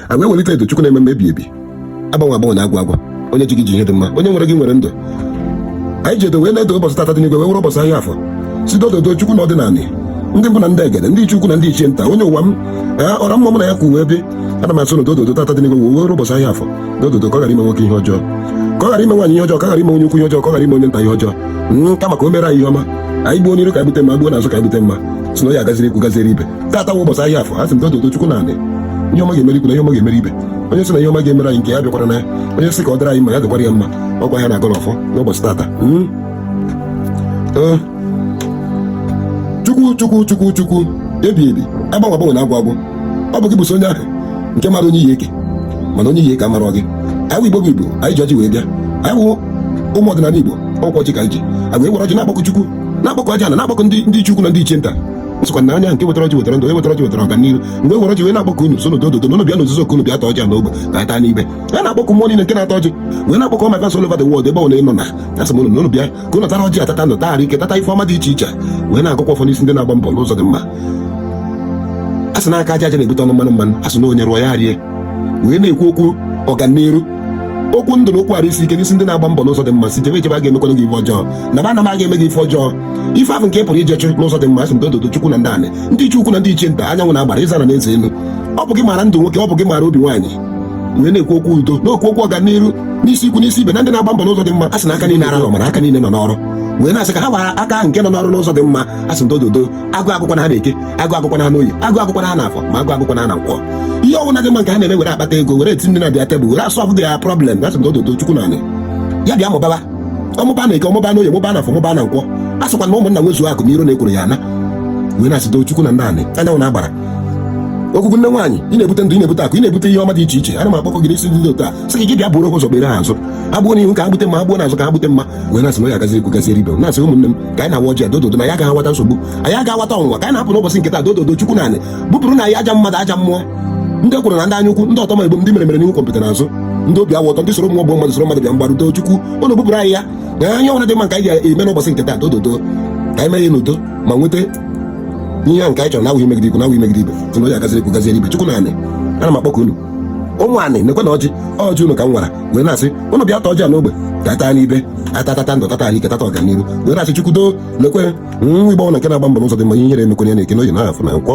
a wee welite edo chukwu na-eme mma ebi ebi agbanwe agbanwe na agwụ agwụ onye ji gị ji ihe dị mma onye nwere gị nwere ndụ anyị ji edo wee na-edo ụbọchị tata dị n'igwe wee were ụbọchị ahịa afọ sị dododo chukwu na ọdịnala ndị mbụ na ndị egede ndị ichie ukwu na ndị ichie nta onye ụwa m ee ọra mma mụ na ya ka uwe bi ana m asị na dododo tata dị n'igwe wee were ụbọchị ahịa afọ dododo ka ọ ghara ime nwoke ihe ọjọọ ka ọ ghara ime nwaanyị ihe ọjọọ ka ọ ghara ime onye ukwu ihe ọjọọ ka ọ ghara ime onye nta ihe ọjọọ nka maka o mere anyị ihe ọma anyị gbuo n'iru ka anyị gbute mma gbuo n'azụ ka anyị gbute mma sị na ya gaziri ikwu gaziri ibe tata wụ ụbọchị ahịa afọ asị m dododo chukwu na anị ihe ọma ga-emeri ikwu na ihe ọma ga-emeri ibe onye sị na ihe ọma ga-emere anyị nke ya bịakwara na ya onye sị ka ọ dịrị anyị mma ya dịkwara ya mma ọ kwa ya na-agọrọ ọfọ n'ụbọchị tata hmm? oh. chukwu chukwu chukwu chukwu ebi ebi agbanwe agbanwe na agwụ agwụ ọ bụ gị bụsị onye ahụ nke mara onye iyi eke mana onye iyi eke amarọ gị anyị igbo bụ igbo anyị ji ọjị wee bịa anyị wụ ụmụ ọdịnala igbo ọ kwa ọjị ka anyị ji agwa e were ọjị na-akpọkụ chukwu na-akpọkụ ajana na-akpọkụ ndị ndị ichie ukwu na ndị ichie nta sịkwa na onye nke wetara ọjị wetara ndụ onye wetara ọjị wetara ọganihu mgbe were ọjị wee na-akpọku unu sị na dododo na unu bịa n'ozuzo ka unu bịa taa ọjị a n'ogbe ka anyị taa n'ibe a na-akpọku mmụọ niile nke na-ata ọjị wee na-akpọku maka nsọ all over the world ebe ọbụla ị nọ na asị m unu na unu bịa ka unu tara ọjị tata ndụ tata arụ ike tata ife ọma dị iche iche wee na-agọkwa ọfọ n'isi ndị na-agba mbọ n'ụzọ dị mma a sị na aka aja aja na-ebute ọnụ mmanụ mmanụ a sị na onye rụọ ya rie wee na-ekwu okwu ọganiru okwu ndụ na okwu arụ isi ike n'isi ndị na-agba mbọ n'ụzọ dị mma sị jebe ejebe a ga-emekwana gị ife ọjọọ naba anaba a ga-eme gị ife ọjọọ ife ahụ nke ị pụrụ ije chụ n'ụzọ dị mma asị m dododo chukwu na ndị anị ndị ichie ukwu na ndị ichie nta anyanwụ na agbara ịzara na eze elu ọ bụ gị maara ndụ nwoke ọ bụ gị maara obi nwaanyị wee na-ekwu okwu udo na-ekwu okwu ọganihu n'isi ikwu n'isi ibe na ndị na-agba mbọ n'ụzọ dị mma a sị na aka niile arahụ mara aka niile nọ n'ọrụ wee na-asị ka ha gbara aka ahụ nke nọ n'ọrụ n'ụzọ dị mma a sị na dododo agụụ agụkwana ha na eke agụụ agụkwana ha n'oye agụụ agụkwana ha n'afọ ma agụụ agụkwana ha na nkwọ ihe ọbụna dị mma nke ha na-eme were akpata ego were etinye nri na their table were a solve their problem a sị na dododo chukwu na anị ya bịa mụbaba ọ mụba na eke ọ mụba na oye mụba na afọ mụba na nkwọ a sịkwa na ụmụnna nwezuo akụ na iro na ekworo ya ana wee na-asị doo chukwu na nna anị anyanwụ na agbara ogwugwu nne nwaanyị ị na-ebute ndụ ị na-ebute akụ ị na-ebute ihe ọma dị iche iche ana m akpọku gị n'isi ndị otu a sị gị gị bịa bụrụ ụzọ kpere ha azụ ha gbuo n'ihu ka ha gbute mma ha gbuo n'azụ ka ha gbute mma wee na-asị na ya gaziere ikwu gaziere ibe m na-asị ụmụnne m ka anyị na-awa ọjị dododo na anyị aga-awata nsogbu anyị aga-awata ọnwụnwa ka anyị na-apụ n'ụbọchị nke taa dododo chukwu na anị bupụrụ anyị aja mmadụ aja mmụọ ndị ekworo na ndị anya ukwu ndị ọtọma igbo ndị mere mere n'ihu gwọmpịtị n'azụ ndị obi awụ ọtọ ndị soro mmụọ gbuo mmadụ soro mmadụ bịa mgbaru chukwu ụnụ bupụrụ anyị ya na ihe ọbụla dị mma nke anyị ga-eme n'ụbọchị nke taa dododo ka anyị mee ya n'udo ma nweta ihe ahụ nke anyị chọrọ na ọ wụghị imegide ikwu na ọ wụghị imegide ibe tụrụ ya gaziri ikwu gaziere ibe chukwu na anị ana m akpọku unu ụmụ anị nekwe na ọjị ọjị unu ka m wara wee na-asị ụnụ bịa ta ọjị a n'ogbe ka a taa n'ibe a tata ndụ tata arụ ike tata ọganihu wee na-asị chukwu doo lekwe nwa igbo ọbụna nke na-agba mbọ n'ụzọ dị mma ihere emekwana ya na eke n'oye na afọ na nkwọ